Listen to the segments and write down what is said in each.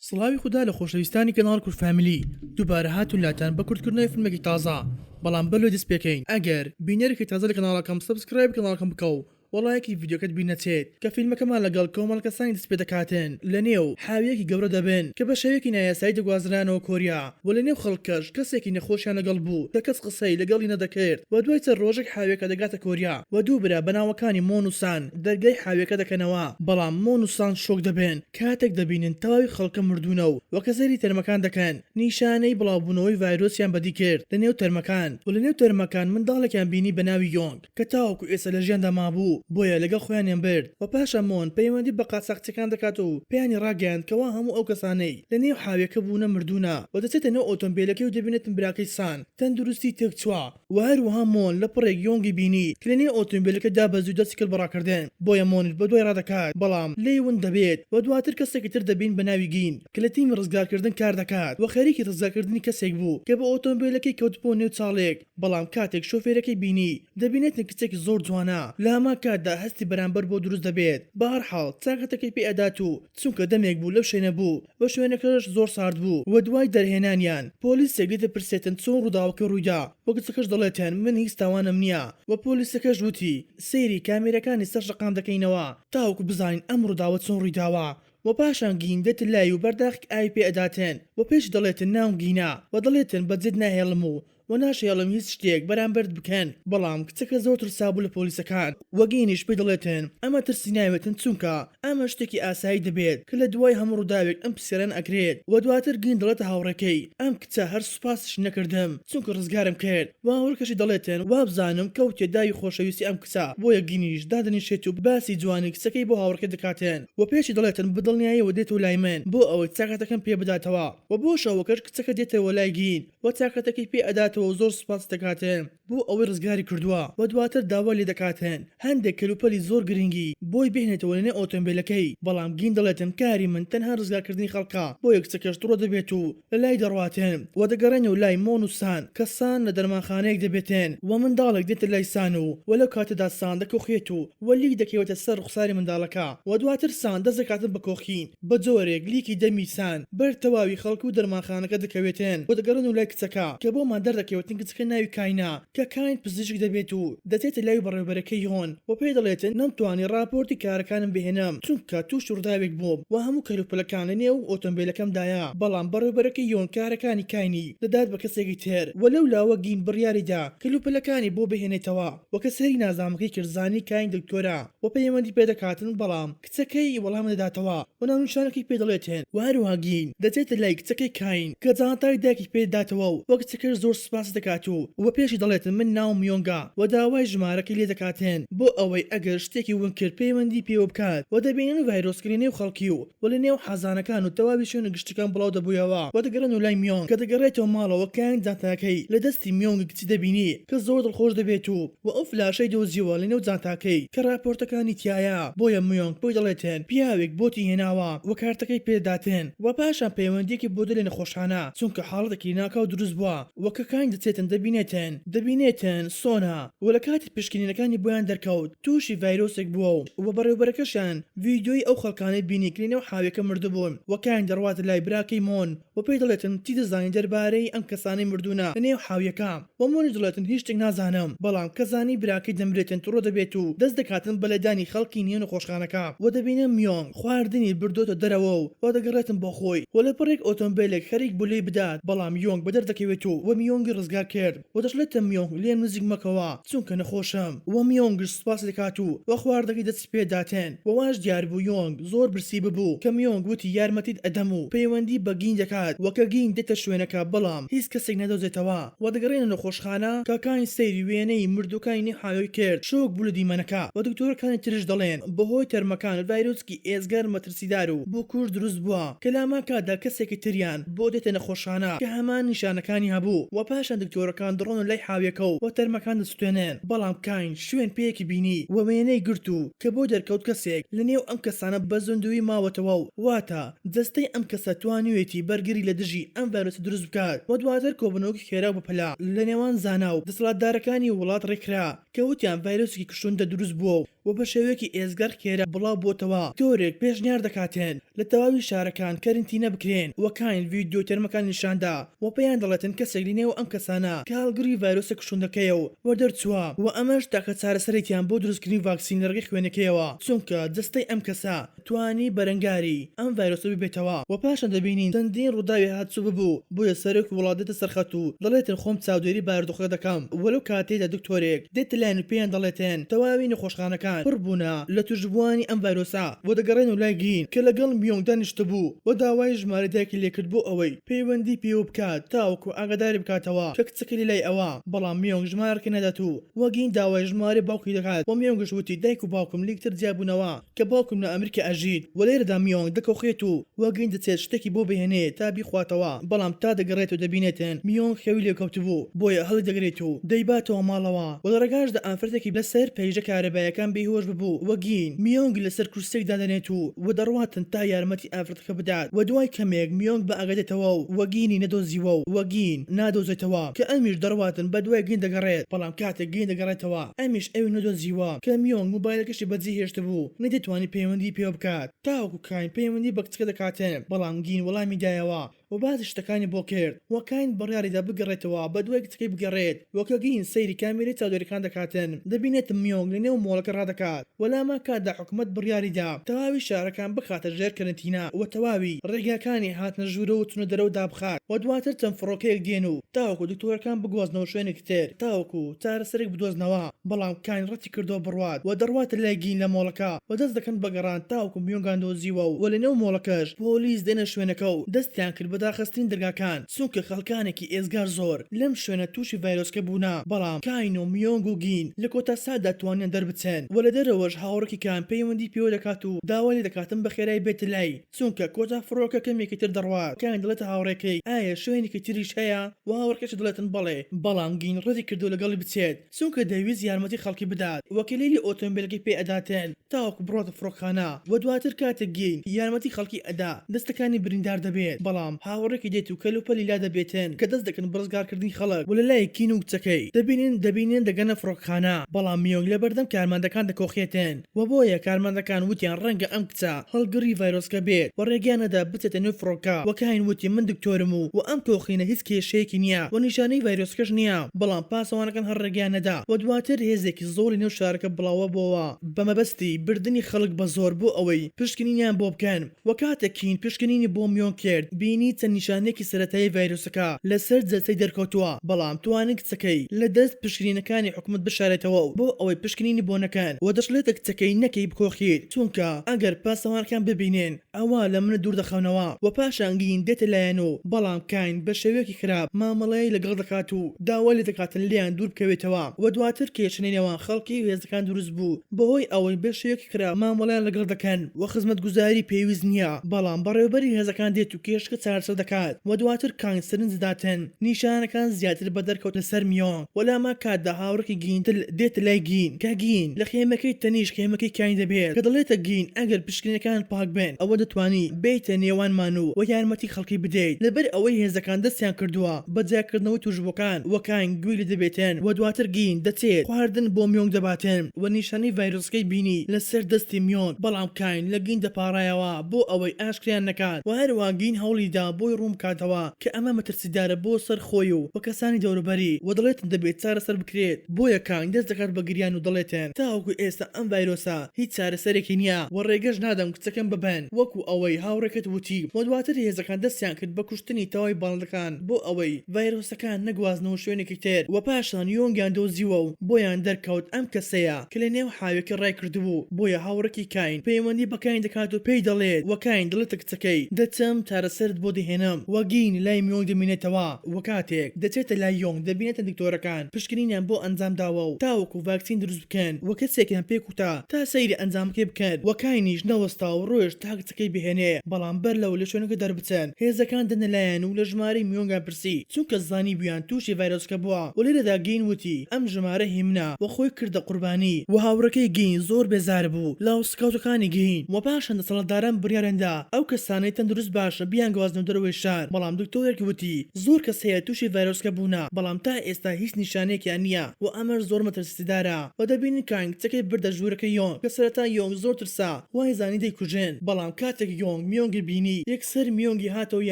سڵاوی خودا لە خۆشەویستانی کەناڵ کورد فامیلی دووبارە هاتوون لاتان بە کورتکردنەوەی فلمێکی تازە بەڵام بەر لەوەی دەست پێکەین ئەگەر بینەرێکی تازە لە کەناڵەکەم سەبسکرایبی کەناڵەکەم بکە و وەڵایەکی ڤیدیۆکەت بیر نەچێت کە فیلمەکەمان لەگەڵ کۆمەڵە کەسانی دەست پێ دەکاتن لە نێو حاویەکی گەورە دەبن کە بە شێوەیەکی نایاسایی دەگوازرانەوە کۆریا و لە نێو خەڵکەش کەسێکی نەخۆشیان لەگەڵ بوو کە کەس قسەی لەگەڵی نەدەکرد و دوای چەند ڕۆژێک حاویەکە دەگاتە کۆریا و دوو برا بە ناوەکانی مۆن و سان دەرگای حاویەکە دەکەنەوە بەڵام مۆن و سان شۆک دەبن کاتێک دەبینن تەواوی خەڵکە مردوونە و وەکە سەیری تەرمەکان دەکەن، نیشانەی بڵاوبوونەوەی ڤایرۆسیان بەدی کرد لە نێو تەرمەکان و لە نێو تەرمەکان منداڵێکیان بینی بە ناوی یۆنگ کە تاوەکو ئێستا لە ژیاندا مابوو بۆیە لەگەڵ خۆیانیان برد و پاش ئەمۆن پەیوەندی بە قاچاخچیەکان دەکات و پێیانی ڕاگەیاند کەوا هەموو ئەو کەسانەی لە نێو حاویەکە بوونە مردوونە و دەچێتە نێو ئۆتۆمبێلەکەی و دەبینێتن براکەی سان تەندروستی تێکچووە. و هەروەها مۆن لە پڕێک یۆنگی بینی کە لە نێو ئۆتۆمبیلەکەدا بە زوو دەستی کرد بە ڕاکردن بۆیە مۆنیش بە دوای ڕادەکات بەڵام لێی ون دەبێت و دواتر کەسێکی تر دەبین بە ناوی گین کە لە تیمی ڕزگارکردن کار دەکات و خەریکی ڕزگارکردنی کەسێک بوو کە بە ئۆتۆمبیلەکەی کەوت بۆ نێو چاڵێک بەڵام کاتێک شۆفێرەکەی بینی دەبینێتن کچێکی زۆر جوانە لە هەمان کاتدا هەستی بەرامبەر بۆ دروست دەبێت بەهەڕحاڵ چاکەتەکەی پێ ئەدات و چونکە دەمێک بوو لەو شوێنە بوو و شوێنەکەش زۆر سارد بوو و دوای دەرهێنانیان پۆلیسێک دەتپرسێتن چۆن ڕووداوەکە ڕوویدا و کچەکەش دەڵێتن من هیچ تاوانم نییە و پۆلیسەکەش وتی سەیری کامێرەکانی سەر شەقام دەکەینەوە تاوەکو بزانین ئەم ڕووداوە چۆن ڕوویداوە و پاشان گین دێتن لای و بەرداخی ئاوی پێ ئەداتن و پێشی دەڵێتن ناوم گینە و دەڵێتن بەجێت ناهێڵم و وە ناشێڵم هیچ شتێک بەرامبەرت بکەن بەڵام کچەکە زۆر ترسابو لە پۆلیسەکان وە گەینیش پێی دەڵێتن ئەمە ترسی ناوێتن چونکە ئەمە شتێکی ئاسایی دەبێت کە لە دوای هەموو ڕوداوێک ئەم پسیارانە ئەکرێت وە دواتر گەین دەڵێتە هاوڕێکەی ئەم کچە هەر سوپاسیشی نەکردم چونکە ڕزگارم کرد وە هاوڕێکەشی دەڵێتن وابزانم کە وتێ داوی خۆشەویستی ئەم کچە بۆیە گەینیش دادەنیشێتو باسی جوانی کچەکەی بۆ هاوڕێکەی دەکاتن وە پێشی دەڵێتن بە دڵنیایەوە دێتەوە لای من بۆ ئەوەی چاکەتەکەم پێ بداتەوە وە بۆ شەوەکەش کچەکە دێتەوە لای گەین و تاقەتەکەی پێ ئەداتەوە و زۆر سوپاست دەکات بۆ ئەوەی ڕزگاری کردووە و دواتر داوای لێ دەکات هەندێک کەلوپەلی زۆر گرنگی بۆی بهێنێتەوە لەنێو ئۆتۆمبێلەکەی بەڵام گین دەڵێت کاری من تەنها ڕزگارکردنی خەڵکە بۆیە کچەکەش توڕە دەبێت و لەلای دەڕوات و دەگەڕێنەوە لای مۆن و سان کە سان لە دەرمانخانەیەک دەبێت و منداڵێک دێتە لای سان و و لەو کاتەدا سان دەکۆخێت و و لیک دەکەوێتە سەر ڕوخساری منداڵەکە و دواتر سان دەست دەکاتن بە کۆخین بە جۆرێک لیکی دەمی سان بەر تەواوی خەڵک و دەرمانخانەکە دەکەوێتێن و دەگەڕێن و لای کچەکە کە بۆ مادەر دەکەوێتن کچەکە ناوی کاینە کە کاین پزیشک دەبێت و دەچێتە لای بەڕێوبەرەکەی یۆن و پێی دەڵێتن نەمتوانی ڕاپۆرتی کارەکانم بهێنم چونکە توشی ڕوداوێک بووم و هەموو کەلوپەلەکان لە نێو ئۆتۆمبێلەکەمدایە بەڵام بەڕێوبەرەکەی یۆن کارەکانی کاینی دەدات بە کەسێکی تر و لەو لاوە گین بڕیاری دا کەلوپەلەکانی بۆ بهێنێتەوە و کە سەیری نازنامەکەی کرد زانی کاین دکتۆرە و پەیوەندی پێدەکاتن بەڵام کچەکەی وەڵام دەداتەوە و ناونیشانەکەی پێ دەڵێت هێن و هەروەها گین، دەچێتە لای کچەکەی کاین کە جانتای دایکی پێ دەداتەوە و کچەکەش زۆر سوپاسی دەکات و و پێشی دەڵێت من ناوم یۆنگە و داوای ژمارەکەی لێ دەکات هێن بۆ ئەوەی ئەگەر شتێکی ون کرد پەیوەندی پێوە بکات و دەبینن ڤایرۆسکە لە نێو خەڵکی و و لە نێو حەزانەکان و تەواوی شوێنە گشتیەکان بڵاو دەبویەوە و دەگەڕێن و لای میۆنگ کە دەگەڕێتەوە ماڵەوە کاین جانتاکەی لە دەستی میۆنگی کچی دەبینی کە زۆر دڵخۆش دەبێت و وە ئەو فلاشەی دۆزیوە لە نێو جانتاکەی کە ڕاپۆرتەکانی تیایە بۆیە میۆنگ بۆی دەڵێتن پیاوێک بۆتی هێناوە وە کارتەکەی پێ دەداتن وە پاشان پەیوەندیەکی بۆ دەلێ نەخۆشخانە چونکە حاڵەتێکی ناکاو دروست بوە وە کە کانگ دەچێتن دەبینێتن دەبینێتن سۆنە وە لە کاتی پشکنینەکانی بۆیان دەرکەوت توشی ڤایرۆسێک بوەو وە بەڕێوبەرەکەشیان ڤیدیۆی ئەو خەڵکانەی بینی کە لە نێو حاویەکە مردبون وە کانگ دەڕواتە لای براکەی مۆن و پێی دەڵێتن چی دەزانی دەربارەی ئەم کەسانەی مردوونە لە نێو حاویەکە؟ و مۆنی دەڵێتن هیچ شتێک نازانم بەڵام کە زانی براکەی دەمرێتن توڕە دەبێت و دەست دەکاتن بە لێدانی خەڵکی نێو نەخۆشخانەکە و دەبینن میۆنگ خواردنی بردۆتە دەرەوە و و دەگەڕێتن بۆ خۆی و لەپڕێک ئۆتۆمبێلێک خەریک بوو لێی بدات بەڵام یۆنگ بەدەر دەکەوێت و و میۆنگی ڕزگار کرد. و دەشڵێتە میۆنگ لێم نزیک مەکەوە چونکە نەخۆشم وە میۆنگش سوپاس لێکات و وە خواردنەکەی دەستی پێ داتێن وە واش دیار بوو یۆنگ زۆر برسی ببوو کە میۆنگ وتی یارمەتیت ئەدەم و پەیوەندی بە گینگ دەکات وە کە گینگ دێتە شوێنەکە بەڵام هیچ کەسێک نەدۆزێتەوە وە دەگەڕێنە نەخۆشخانە کە کانگ سەیری وێنەی مردووەکانی نیهایۆی کرد شۆک بوو لە دیمەنەکە وە دکتۆرەکانی ترش دەڵێن بەهۆی تەرمەکان ڤایرۆسکی ئێجگار مەترسیدار سیدار و بوکور دروست بووە کە لاماکا دا کەسێکی تریان بۆ دێتە نەخۆشخانە کە هەمان نیشانەکانی هەبوو و پاشان دکتۆرەکان دڕۆن و لای حاویەکە و و تەرمەکان دەسوتێنن بەڵام کاین شوێن پێیەکی بینی و وێنەی گرت و کە بۆی دەرکەوت کەسێک لە نێو ئەم کەسانە بە زندووی ماوەتەوە و واتە جەستەی ئەم کەسە توانیوێتی بەرگری لە دژی ئەم ڤایرۆسە دروست بکات و دواتر کۆبوونەوەکی خێرا و بەپەلە لە نێوان زانا و دەسەڵاتدارەکانی وڵات ڕێکخرا کە وتیان ڤایرۆسێکی کوشندە دروست بووە و و بە شێوەیەکی ئێجگار خێرا بڵاو بۆتەوە. تۆرێک پێشنیار دەکاتن لە تەواوی شارەکان کەرنتینە بکرێن و کاین ڤیدیۆی تەرمەکانی نیشان دا و پێیان دەڵێتن کەسێک لە نێو ئەم کەسانە کە هەڵگری ڤایرۆسە کوشندەکەیە و وەدەرچووە و ئەمەش تاکە چارەسەرێکیان بۆ دروستکردنی ڤاکسین لە ڕێگەی خوێنەکەیەوە چونکە جەستەی ئەم کەسە توانی بەرەنگاری ئەم ڤایرۆسە ببێتەوە و پاشان دەبینین چەندین ڕووداوی هاتوو ببوو، بۆیە سەرۆکی وڵات دێتە سەرخەت و دەڵێتن خۆم چاودێری بارودۆخەکە دەکەم و لەو کاتەیدا دکتۆرێک دێتە لایان و پێیان دەڵێتن تەواوی نەخۆشخانەکان پڕ بوونە لە توشبووانی ئەم ڤایرۆسە و دەگەڕێنەوە لای گین کە لەگەڵ میۆنگ دانیشتبوو و داوای ژمارەی دایکی لێکرد بۆ ئەوەی پەیوەندی پێوە بکات تاوەکو ئاگاداری بکاتەوە کە کچەکەی لە لای ئەوە، بەڵام میۆنگ ژمارەکەی نادات و گین داوای ژمارەی باوکی دەکات و میۆنگش وتی دایک و باوکم لێکتر جیابوونەوە. کە باوکم لە ئەمریکا ئەژیت و لێرەدا میۆنگ دەکۆخێت و وەک گەنج دەچێت شتێکی بۆ بهێنێت تا بیخواتەوە بەڵام تا دەگەڕێت و دەبینێتن میۆنگ خەوی لێکەوتبوو بۆیە هەڵیدەگرێت و دەیباتەوە ماڵەوە و لە ڕێگاشدا ئافرەتێکی لە سەر پەیژە کارەبایەکان بێهۆش ببوو و گین میۆنگی لە سەر کورسیەک دادەنێت و و دەڕواتن تا یارمەتی ئافرەتەکە تکە بدات و دوای کەمێک میۆنگ بە ئاگا دێتەوە و وەگینی نەدۆزیوە و وەگین نادۆزێتەوە کە ئەمیش دەڕواتن بە دوای گین دەگەڕێت بەڵام کاتێک گین دەگەڕێتەوە ئەمیش ئەوی نەدۆزیوە کە میۆنگ موبایلەکەشی بەجێ هێشتبوو نەیدەتوانی پەیوەندی پێوە بکات تاوەکو کاین پەیوەندی بە کچەکە دەکاتن بەڵام گین وەڵامی دایەوە و باسی شتەکانی بۆ کرد و کاین بڕیاریدا بگەڕێتەوە بە دوای کچەکەی بگەڕێت وەکە گین سەیری کامێرەی چاودێرکان دەکاتن دەبینێت میۆنگ لە نێو مۆڵەکە ڕادەکات وە لامان کاتدا حکومەت بڕیاری دا تەواوی شارەکان بخاتە ژێر کەرەنتینا وە تەواوی ڕێگاکانی هاتنە ژورەوە و چونە دەرەوە دابخات وە دواتر چەند فڕۆکەیەک دێن و تاوەکو دکتۆرەکان بگوازنەوە شوێنێکی تر تاوەکو چارەسەرێک بدۆزنەوە بەڵام کاین ڕەتی کردوە بڕوات وە دەڕواتە لای گین لە مۆڵەکە وە دەست دەکەن بە گەڕان تاوەکو میۆنگان دۆزیوە و وە لە نێو مۆڵەکەش پۆلیس دێنە شوێنەکە و دەستیان کرد بە داخستنی دەرگاکان. چونکە خەڵکانێکی ئێجگار زۆر لەم شوێنە تووشی ڤایرۆسکە بوونە، بەڵام کاین و میۆنگ و گین لە کۆتا ساتدا توانیان دەربچن و لە دەرەوەش هاوڕێکێکیان پەیوەندی پێوە دەکات و داوای لێ دەکاتم بە خێرای بێتە لای چونکە کۆتا فڕۆکە کەمێکی تر دەڕوات، کاین دەڵێتە هاوڕێکەی ئایا شوێنێکی تریش هەیە و هاوڕێکەکەشی دەڵێتن بەڵێ، بەڵام گین ڕەدی کردووە لەگەڵی بچێت. چونکە دەیویست یارمەتی خەڵکی بدات و کلیلی ئۆتۆمبیلەکەی پێ ئەداتێن تاوەکو بڕۆتە فڕۆکەخانە و دواتر کاتێک گین یارمەتی خەڵکی ئەدا دەستەکانی بریندار دەبێت بەڵام هاوەڕێکی دێت و کەلوپەلی لا دەبێتن کە دەست دەکەن بەڕزگار کردنی خەڵک و لەلای کین و کچەکەی دەبینن دەبینن دەگەنە فڕۆکەخانە بەڵام یۆنگ لەبەردەم کارمەندەکان دەکۆخێتن. و بۆیە کارمەندەکان وتیان ڕەنگە ئەم کچە هەڵگڕی ڤایرۆسکە بێت و ڕێگەیان نەدا بچێتە نێو فڕۆکە و کاین وتی من دکتۆرم و و ئەم تۆخینە هیچ کێشەیەکی نییە و نیشانەی ڤایرۆسکەش نییە بەڵام پاسەوانەکان هەر ڕێگەیان نەدا و دواتر هێزێکی زۆڵی نێو شارەکە بڵاوەبۆوە بەمەبەستی بردنی خەڵک بەزۆر بۆ ئەوەی پشکنینیان بۆ بکەن. و کاتێک کین پشکنینی بۆ میۆنگ کرد بینی چەند نیشانەیەکی سەرەتایی ڤایرۆسەکە لەسەر جەستەی دەرکەوتووە بەڵام توانی کچەکەی لە دەست پشکنینەکانی حکومەت بشارێتەوە و بۆ ئەوەی پشکنینی بۆ نەکەن و دەشڵێت کچەکەی نەکەی بکۆخیت چونکە ئەگەر پاسەوانەکان ببینێن ئەوا لە منت دوور دەخەونەوە و پاشان گین دێتە لایان و بەڵام کین بە شێوەیەکی خراپ مامەڵەی لەگەڵ دەکات و داوای لێ دەکاتن لێیان دوور بکەوێتەوە و دواتر کێشەی نێوان خەڵکی و هێزەکان دروست بوو بەهۆی ئەوەی بە شێوەیەکی خراپ مامەڵەیان لەگەڵ دەکەن. و خزمەتگوزاری پێویست نییە، بەڵام بەڕێوەبەری هێزەکان دێت و کێشەکە چارەسەر دەکات و دواتر کانگ سرنج دەداتن نیشانەکان زیاتر بە دەرکەوت لەسەر میۆنگ و لەهەمان کاتدا هاوڕێکی گین تل دێتە لای گین کە گین لە خێمەکەی تەنیشت خێمەکەی کانگ دەبێت کە دەڵێتە گین ئەگەر پشکنینەکانت پاک بن ئەوە دەتوانی بێیتە نێوانمان و و یارمەتی خەڵکی بدەیت لەبەر ئەوەی هێزەکان دەستیان کردووە بە جیاکردنەوەی توشبووەکان و کانگ گوێی لێ دەبێتن و دواتر گین دەچێت خواردن بۆ میۆنگ دەباتن. و نیشانەی ڤایرۆسەکەی بینی لە سەر دەستی میۆن، بەڵام کاین لە گین دەپاڕایەوە بۆ ئەوەی ئاشکرایان نەکات و هەروەها گین هەوڵی دا بۆی ڕوون بکاتەوە کە ئەمە مەترسیدارە بۆ سەر خۆی و و کەسانی دەوروبەری و دەڵێتن دەبێت چارەسەر بکرێت، بۆیە کاین دەست دەکات بە گریان و دەڵێتن تاوەکو ئێستا ئەم ڤایرۆسە هیچ چارەسەرێکی نییە و ڕێگەش نادەم کچەکەم ببەن وەکو ئەوەی هاوڕێکەت وتی، و دواتر هێزەکان دەستیان کرد بە کوشتنی تەواوی باڵندەکان. بۆ ئەوەی ڤایرۆسەکان نەگوازنەوە شوێنێکی تر و پاشان یۆنگیان دۆزیوە و بۆیان دەرکەوت ئەم کەسەیە کە لە نێو حاوێکی ڕایکردبوو بۆیە هاوڕێکی کاین پەیوەندی بە کاین دەکات و پێی دەڵێت و کاین دەڵێتە کچەکەی دەچم چارەسەرت بۆ دەهێنم و گین لای میۆنگ دەمێنێتەوە و کاتێک دەچێتە لای یۆنگ دەبینێتە دکتۆرەکان پشکنینیان بۆ ئەنجام داوە و تاوەکو ڤاکسین دروست بکەن و کەسێکیان پێ کوتا تا سەیری ئەنجامەکەی بکەن و کاینیش نەوەستا و ڕۆیشت تا تکەی بهێنێ، بەڵام بەر لەوەی لە شوێنەکە دەربچن هێزەکان دێنە لایان و لە ژمارەی میۆنگان پرسی، چونکە زانیبوویان تووشی ڤایرۆسەکە بووە و لێرەدا گین وتی، ئەم ژمارە هی منە و خۆی کردە قوربانی. و هاوڕێکەی گین زۆر بێزار بوو لە هەڵسوکەوتەکانی گین و پاشان دەسەڵاتداران بڕیاریان دا ئەو کەسانەی تەندروست باشە بیانگوازنەوە دەرەوەی شار، بەڵام دکتۆرێک وتی، زۆر کەس هەیە تووشی ڤایرۆسەکە بوونە، بەڵام تا ئێستا هیچ نیشانەیەکیان نییە و ئەمەش زۆر مەترسیدارە و دەبینن کانگ تکەی بردە ژوورەکەی یۆنگ کە سەرەتا یۆنگ زۆر ترسا، وای زانی دەیکوژێن بەڵام کاتێک یۆنگ میۆنگی بینی یەکسەر میۆنگی هاتەوە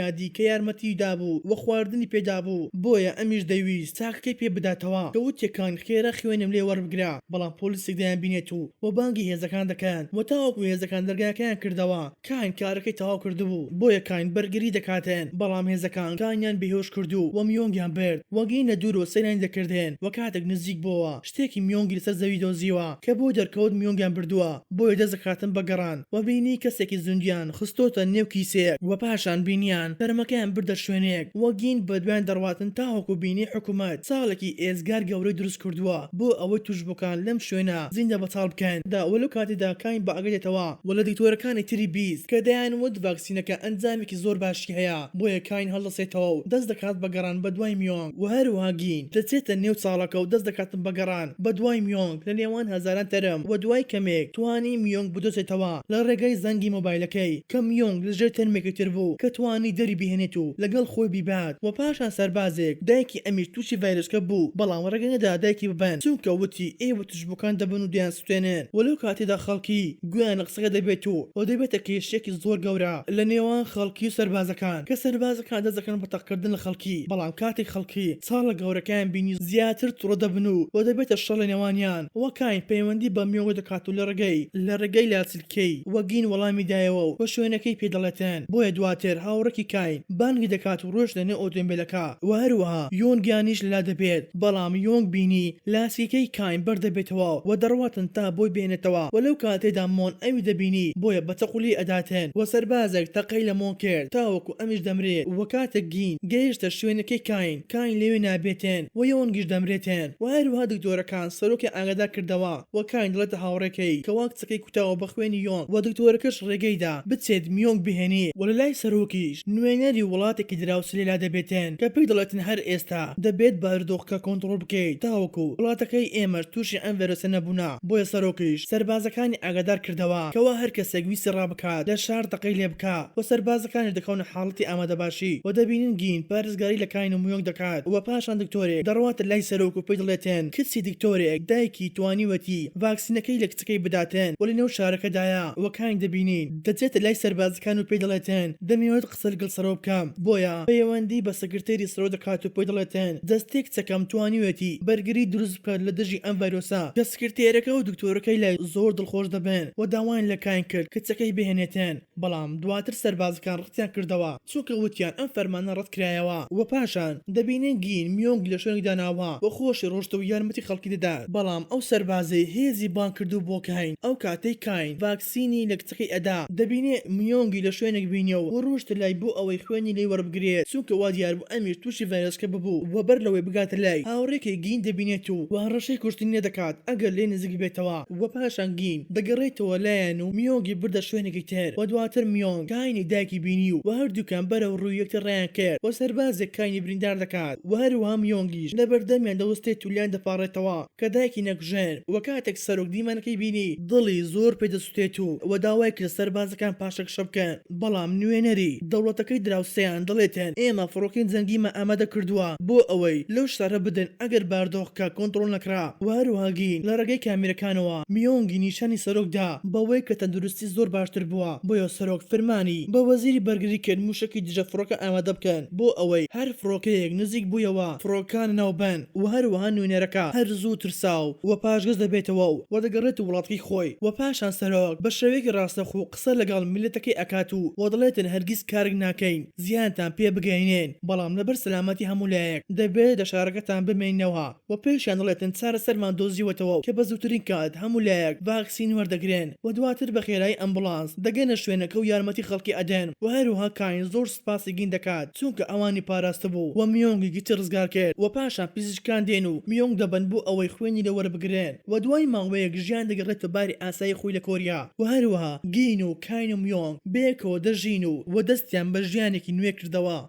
یادی کە یارمەتیی دابوو و خواردنی پێ دابوو بۆیە ئەمیش دەیویست تاکەکەی پێ بداتەوە کە وتیەکان خێرا خوێنم لێ وەربگرە بەڵام پۆلیسێک دەیانبینێت و و بانگی هێزەکان دەکەن و تاوەکو هێزەکان دەرگاکەیان کردەوە کاین کارەکەی تەواو کردبوو بۆیە کاین بەرگری دەکاتێن بەڵام هێزەکان کاینیان بێهۆش کردوو و میۆنگیان برد و گەینە دوورەوە سەیرانی دەکردێن و کاتێک نزیک بۆوە شتێکی میۆنگی لەسەر زەوی دۆزیوە کە بۆی دەرکەوت میۆنگیان بردووە بۆیە دەست دەکاتن بە گەڕان وە بینی کەسێکی زوندیان خستۆتە نێو کیسێک وە پاشان بینیان تەرمەکەیان بردە شوێنێک وە گین بەدوایان دەڕواتن تاوەکو بینی حکومەت چاڵێکی ئێجگار گەورەی دروست کردووە بۆ ئەوەی توشبوکان لەم شوێنە زیندە بەتاڵ بکەن دا وە لەو کاتەدا کاین بە ئاگا دێتەوە وە لە دکتۆرەکانی تری بیست کە دەیان وت ڤاکسینەکە ئەنجامێکی زۆر باشی هەیە بۆیە کاین هەڵدەسێتەوەو دەست دەکات بە گەڕان بەدوای میۆنگ. و هەروەها گین دەچێتە نێو چاڵەکە و دەست دەکاتن بە گەڕان بە دوای میۆنگ لە نێوان هەزاران تەرم و دوای کەمێک توانی میۆنگ بدۆزێتەوە لە ڕێگای زەنگی مۆبایلەکەی کە میۆنگ لە ژێر تەرمێکی تر بوو کە توانی دەری بهێنێت و لەگەڵ خۆی بیبات و پاشان سەربازێک دایکی ئەمیش تووشی ڤایرۆسکە بوو بەڵام ڕێگەنەدا دایکی ببەن چونکە وتی ئێوە ژبوکان دەبن و دەیانسوتێنن و لەو کاتەدا خەڵکی گوێیان لە قسەکە دەبێت و ئەوە دەبێتە کێشەیەکی زۆر گەورە لە نێوان خەڵکی و سەربازەکان کە سەربازەکان دەست دەکەن بە تەقکردن لە خەڵکی بەڵام کاتێک خەڵکی چاڵە گەورەکەیان بینی زیاتر توڕە دەبن و و دەبێتە شەڕ لە نێوانیان و کاین پەیوەندی بە میۆگۆ دەکات و لە ڕێگەی لە ڕێگەی لاچ کەی؟ و گین وەڵامی دایەوە و شوێنەکەی پێ دەڵێتن، بۆیە دواتر هاوڕێکی کاین بانگی دەکات و ڕۆیشتە نێو ئۆتۆمبێلەکە و هەروەها یۆنگ یانیش لەلا دەبێت، بەڵام یۆنگ بینی لاسییەکەی کاین بەر دەبێتەوە و دەڕواتن تا بۆی بێنێتەوە و لەو کاتەیدا مۆن ئەوی دەبینی بۆیە بە چەقۆ لێی ئەداتن و سەربازێک تەقەی لە مۆن کرد تاوەکو ئەمیش دەمرێت و کاتێک گین گەیشتە شوێنەکەی کاین کاین لەوێ نابێتن و یۆنگیش دەمرێتن و هەروەها دکتۆرەکان سەرۆکیان ئاگادار کردەوە و کاین دەڵێتە هاوڕێکەی کە قسەکەی کوتاوە بە خوێنی یۆنگ وە دکتۆرەکەش ڕێگەی دا بچێت میۆنگ بهێنی وە لە لای سەرۆکیش نوێنەری وڵاتێکی دراوسێ لێلا دەبێتێن کە پێی دەڵێتن هەر ئێستا دەبێت بارودۆخەکە کۆنتڕۆڵ بکەیت تاوەکو وڵاتەکەی ئێمەش توشی ئەم ڤێرۆسە نەبوونە بۆیە سەرۆکیش سەربازەکانی ئاگادار کردەوە کەوا هەر کەسێک ویستی ڕابکات لە شار تەقەی لێ بکا وە سەربازەکانیش دەکەونە حاڵەتی ئامادەباشی وە دەبینن گین پارێزگاری لە کاین و میۆنگ دەکات وە پاشان دکتۆرێک دەڕواتە لای سەرۆک و پێی دڵێتێن کچی دکتۆرێک دایکی توانیوەتی ڤاکسینەکەی لە کچەکەی بداتێن و لەنێو شارەکەدایە و کانی دەبینین دەچێتە لای سەربازەکان و پێی دەڵێتێن دەمەوێت قسە لگەڵ سەرۆ بکەم بۆیە پەیەوەندی بە سکرتێری سەرۆ دەکات و پێی دەڵێتێن دەستەی کچەکەم توانیوێتی بەرگری دروست بکات لە دژی ئەم ڤایرۆسە کە سکرتێرەکە و دکتۆرەکەی لای زۆر دڵخۆش دەبن و داوایان لە کاین کرد کچەکەی بهێنێتێن بەڵام دواتر سەربازەکان ڕەتیان کردەوە. چونکە وتیان ئەم فەرمانە ڕەت کرایەوە. وە پاشان دەبینین گین میۆنگ لە شوێنێک داناوە و خۆشی ڕۆشتە و یارمەتی خەڵکی دەدات بەڵام ئەو سەربازەی هێزی بانگ کردوو بۆ کاین ئەو کاتەی کاین ڤاکسینی لە کچەکەی ئەدا دەبینێ میۆنگی لە شوێنێک بینیەوە و ڕۆشتە لای بۆ ئەوەی خوێنی لێی وەربگرێت چونکە وا دیار بوو ئەمیش توشی ڤایرۆسکە ببوو وە بەر لەوەی بگاتە لای هاوڕێکەی گین دەبینێت و هەڕەشەی کوشتنی لێ دەکات ئەگەر لێی نزیک بێتەوە. و پاشان گین دەگەڕیتەوە لایان و میۆنگی بردە شوێنێکی تر و دواتر میۆنگ کاینی دایکی بینی و هەردووکیان بەرەو ڕووی یەکتر ڕایان کرد و سەربازێک کاینی بریندار دەکات و هەروەها میۆنگیش لەبەردەمیان دەوستێت و لێیان دەپاڕێتەوە کە دایکی نەکوژن و کاتێک سەرۆک دیمەنەکەی بینی دڵی زۆر پێ دەسوتێت و داوای کرد سەربازەکان پاشەکشە بکەن. بەڵام نوێنەری دەوڵەتەکەی دراوسێیان دەڵێتن ئێمە فڕۆکەی جەنگیمە ئامادە کردووە بۆ ئەوەی لەو شارە بدەن ئەگەر باردۆخکە کۆنتڕۆڵ نەکرا و هەروەها گین لە ڕێگەی کامێرەکانەوە میۆنگی نیشانی سەرۆک دا بەوەی کە تەندروستی زۆر باشتر بووە بۆیە سەرۆک فەرمانی بە وەزیری بەرگری کرد موشەکی دژە فڕۆکە ئامادە بکەن بۆ ئەوەی هەر فڕۆکەیەک نزیک بوویەوە فڕۆکانە ناو بەن و هەروەها نوێنەرەکە هەر زوو ترساو و پاشگەز دەبێتەوە و دەگەڕێت وڵاتەکەی خۆی و پاشان سەرۆک بە شێوەیەکی ڕاستەخۆ قسە لەگەڵ میللەتەکەی ئەکات و وە دەڵێتن هەرگیز کارک ناکەین زیانتان پێ بگەینێن بەڵام لەبەر سەلامەتی هەموو لایەک دەبێت لە شارەکەتان بمێننەوە وە پێشیان دەڵێتن چارەسەرمان دۆزیوەتەوە کە بە زووترین کات هەموو لایەک ڤاکسین وەردەگرێن وە دواتر بە خێرایی ئەمبوڵانس دەگەنە شوێنەکە و یارمەتی خەڵکی ئەدەن وە هەروەها کاین زۆر سوپاسی گین دەکات چونکە ئەوانی پاراستبوو وە میۆنگی گچی ڕزگار کرد وە پاشان پزیشکان دێن و میۆنگ دەبەن بۆ ئەوەی خوێنی لێ وەربگرن. و دوای ماوەیەک ژیان دەگەڕێتە باری ئاسایی خۆی لە کۆریا و هەروەها گین و کاینم یۆنگ بەیەکەوە دەژین و و دەستیان بە ژیانێکی نوێ کردەوە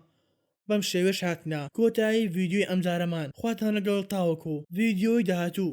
بەم شێوەیەش هاتنە کۆتایی ڤیدیۆی ئەمجارەمان خواتان لەگەڵ تاوەکو ڤیدیۆی داهاتوو.